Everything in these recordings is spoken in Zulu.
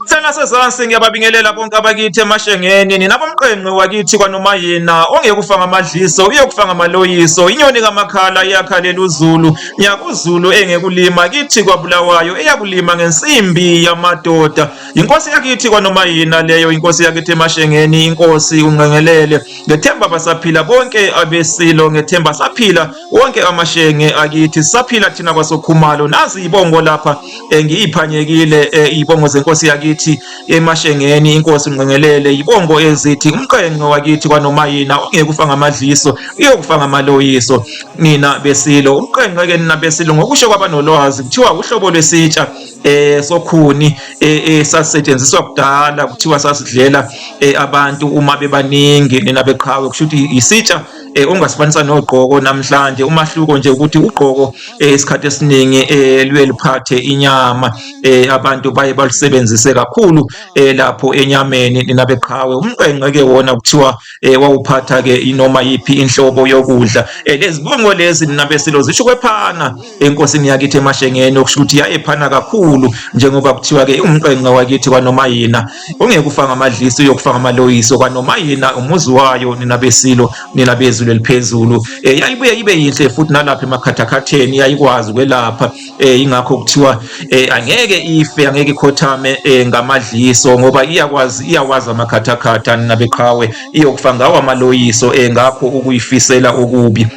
Sengasezansi ngiyababingelela bonke abakithi emashengeni ninabomqengqe wakithi kwanoma yena ongekufa ngamadliso uyokufa ngamaloyiso inyoni kamakhala iyakhalela uzulu nyakuzulu engekulima kithi kwabulawayo eyakulima ngensimbi yamadoda inkosi yakithi kwanoma yena leyo inkosi yakithi emashengeni inkosi unqengelele ngethemba basaphila bonke abesilo ngethemba saphila wonke amashenge akithi saphila thina kwasokhumalo nazi ibongo lapha eh, ngiyiphanyekile eh, ibongo zenkosi yakithi emashengeni inkosi ngqengelele ibongo ezithi umqenqe wakithi kwanomayina ongekufa ngamadliso iyokufa ngamaloyiso nina besilo umqenqe ke nina besilo ngokusho kwabanolwazi kuthiwa uhlobo lwesitsha eh sokhuni esasetshenziswa eh, kudala kuthiwa sasidlela abantu uma bebaningi nina beqhawe kusho ukuthi isitsha eh, ongasifanisa nogqoko namhlanje umahluko nje ukuthi ugqoko eh, isikhathi esiningi eh, luye liphathe inyama eh, abantu baye balusebenzise kakhulu eh, lapho enyameni nina beqhawe umqenge ke wona kuthiwa eh, wawuphatha ke inoma yiphi inhlobo yokudla eh, lezibongo lezi nina besilo zisho kwephana enkosini yakithi emashengeni okusho ukuthi yayephana kakhulu njengoba kuthiwa ke umqenge wakithi kwanoma yina ungeke ufanga amadlisi uyokufanga amaloyiso kwanoma yena umuzi wayo nina besilo nina bezulu eliphezulu um eh, yayibuye ibe yinhle futhi nalapha emakhathakhatheni yayikwazi ukwelapha um eh, ingakho kuthiwa um angeke ife angeke ikhothame um ngamadliso ngoba iyakwazi iyawazi amakhathakhatha nina beqhawe iyokufa ngawo amaloyiso um ngakho ukuyifisela okubi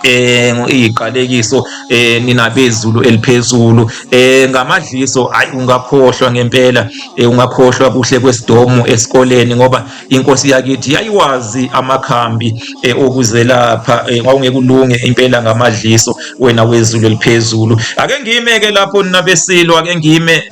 eh iqalekiso eh nina bezulu eliphezulu eh ngamadliso ayi ungakhohlwa ngempela eh ungakhohlwa kuhle kwesidomu esikoleni ngoba inkosi yakithi yayiwazi amakhambi eh okuzelapha eh kwawungekulunge impela ngamadliso wena wezulu eliphezulu ake ngime ke lapho nina besilwa ake ngime